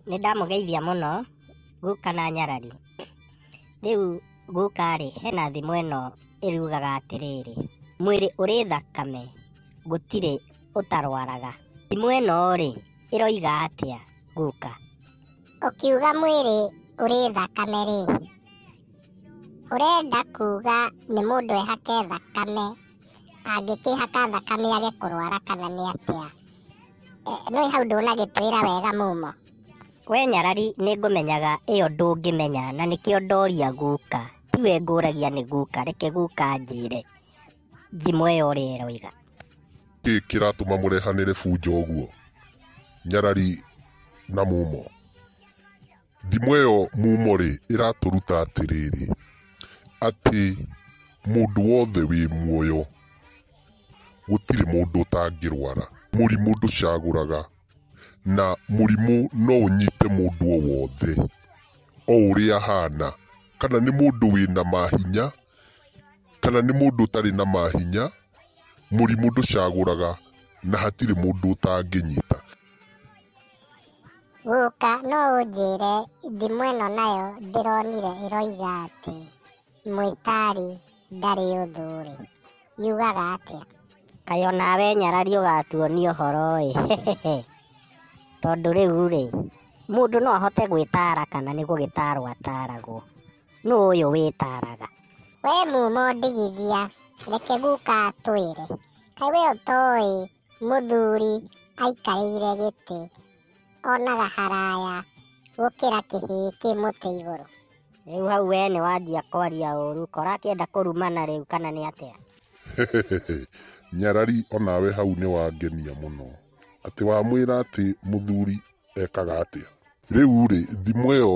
Nĩ ndamũgeithia mũno guka na nyarari. Rĩu guka-rĩ, hena thimo ĩno ĩrugaga atĩrĩrĩ, mwĩrĩ ũrĩ thakame gũtirĩ ũtarwaraga. Thimo ĩno-rĩ, ĩroiga atĩa guka? Ũkiuga mwĩrĩ ũrĩ thakame-rĩ, ũrenda kuga nĩ mũndũ ehake thakame angĩkĩhaka thakame age kũrwara kana nĩ atĩa? Nĩ hau ndũnagĩtwĩra wega Mumo. We nyarari nĩ ngũmenyaga ĩyo ndũngĩmenya na nĩkĩo ndoria guka. Tiwe ngũragia nĩ guka, reke guka anjĩre thimo ĩyo ũrĩa ĩroiga. Nĩ kĩĩ kĩratũma mũrehanĩre bunjo ũguo Nyarari na Mumo? Ndimũ ĩyo mumo-rĩ, ĩratũruta atĩrĩrĩ, atĩ mũndũ wothe wĩ muoyo, gũtirĩ mũndũ ũtangĩrwara. Mũrimũ ndũcagũraga, na mũrimũ no ũnyite mũndũ o wothe, o ũrĩa ahana. Kana nĩ mũndũ wĩna mahinya, kana nĩ mũndũ ũtarĩ na mahinya, mũrimũ ndũcagũraga, na hatirĩ mũndũ ũtangĩnyita. Guka no ũnjĩre thimũ ĩno nayo ndĩronire ĩroiga atĩ mwĩtari ndarĩ ũthũ rĩ, yugaga atĩa? Kaĩ onawe nyarari ũgatuonia ũhoro ĩ, tondũ rĩu rĩ, mũndũ no ahote gwĩtara kana nĩ gũgĩtarwo ataragwo? Nũ ũyũ wĩtaraga? We mumo ndigithia, reke guka atwĩre. Kaĩ we ũtoĩ Mũthuri aikarĩire gĩtĩ, onaga haraya gũkĩra kĩhĩĩ kĩ mũtĩ igũrũ. Rĩu hau we nĩ wanjia kwaria ũru, kora akĩenda kũrumana rĩu kana nĩ atĩa? Hehehehe, Nyarari onawe hau nĩ wangenia mũno. Atĩ wamwĩra atĩ mũthuri ekaga atĩa rĩu rĩ thimũ ĩyo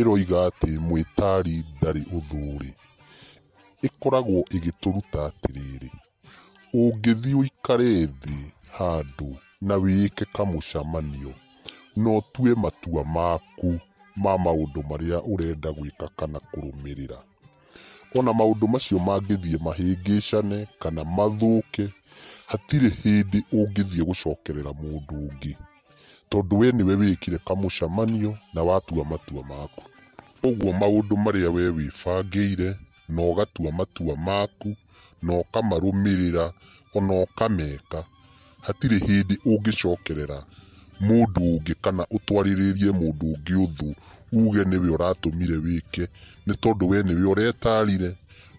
ĩroiga atĩ mwĩtari ndarĩ ũthũrĩ ĩkoragwo ĩgĩtũruta atĩrĩrĩ ũngĩthiĩ ũikare thĩ handũ na wĩĩke kamũcamanio na ũtue matua maku ma maũndũ marĩa ũrenda gwĩka kana kũrũmĩrĩra. O na maũndũ macio mangĩthiĩ mahĩngĩcane kana mathũke, hatirĩ hĩndĩ ũngĩthiĩ gũcokerera mũndũ ũngĩ, tondũ wee nĩwe wĩkire kamũcamanio na watua matua maku. Ũguo maũndũ marĩa wee wĩbangĩire na ũgatua matua maku na ũkamarũmĩrĩra o na ũkameka, Hatirĩ hĩndĩ ũngĩcokerera mũndũ ũngĩ kana ũtwarĩrĩrie mũndũ ũngĩ ũthũ uge nĩwe ũratũmire wĩke nĩ tondũ we nĩwe ũretarire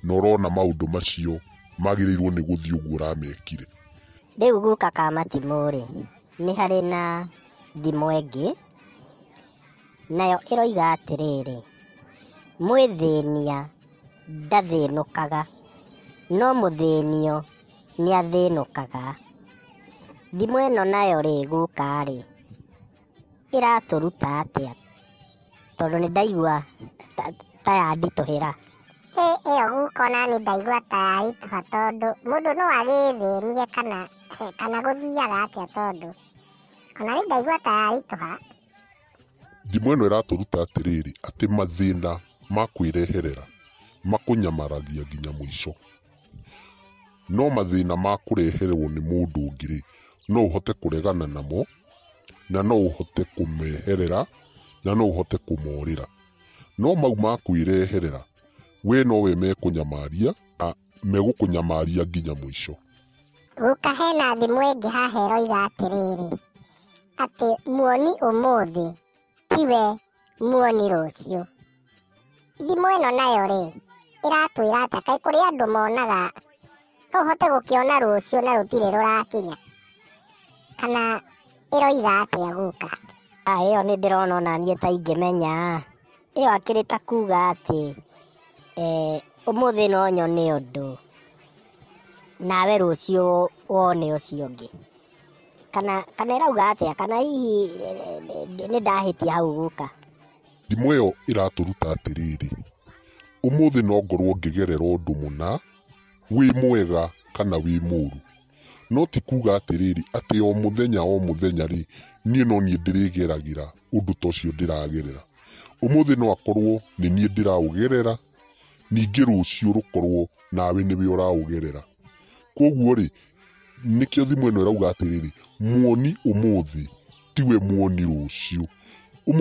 na ũrona maũndũ macio magĩrĩirwo nĩ gũthiĩ ũguo ũramekire. Rĩu gũka ka matimũ rĩ, nĩ harĩ na thimo ĩngĩ nayo ĩroiga atĩrĩrĩ, mwĩthĩnia ndathĩnũkaga, no mũthĩnio nĩ athĩnũkaga. Thimũ ĩno nayo rĩ gũka rĩ, ĩratũruta atĩa? Tondũ nĩ ndaigua ta yanditũhĩra. Ĩ ĩyo guka ona niĩ ndaigua ta yaritũha tondũ mũndũ no agĩĩthĩnie kana kana gũthiaga atĩa tondũ ona niĩ ndaigua ta yaritũha. Ndimũ ĩno ĩratũruta atĩrĩrĩ, atĩ mathĩna ma kwĩreherera makũnyamaragia nginya mũico. No mathĩna ma kũreherwo nĩ mũndũ ũngĩ-rĩ, no ũhote kũregana namo, na no ũhote kũmeherera, na no ũhote kũmorĩra. No mau ma kwĩreherera, we nowe mekũnyamaria. megũkũnyamaria nginya mũico. Gũka hena thimũ ĩngĩ haha ĩroiga atĩrĩrĩ, atĩ muoni ũmũthĩ tiwe muoni rũciũ. Thimũ ĩno nayo rĩ, ĩratwĩra atĩa? Kaĩ kũrĩ andũ monaga no ũhote gũkĩona rũciũ na rũtirĩ rũrakinya? Kana ĩroiga atĩa gũka? Ĩyo nĩ ndĩrona onaniĩ ta ingĩmenya. Ĩyo akĩrĩ ta kuga atĩ eh, ũmũthĩ no nyone ũndũ nawe rũciũ wone ũcio ũngĩ kana kana ĩrauga atĩa kana hihi eh, nĩ ndahĩtia hau guka Ndimũ ĩyo ĩratũruta atĩrĩrĩ, ũmũthĩ no ngorũo ngĩgerera ũndũ mũna, wĩ mwega kana wĩ mũũru. No ti kuuga atĩrĩrĩ, atĩ o mũthenya o mũthenya-rĩ, niĩ no niĩ ndĩrĩgeragĩra ũndũ ta ũcio ndĩragerera. Ũmũthĩ no akorwo nĩ niĩ ndĩraũgerera, ningĩ rũciũ rũkorwo nawe nĩwe ũraũgerera. Kũguo-rĩ, nĩkĩo thimo ĩno ĩrauga atĩrĩrĩ, muoni ũmũthĩ tiwe muoni rũciũ.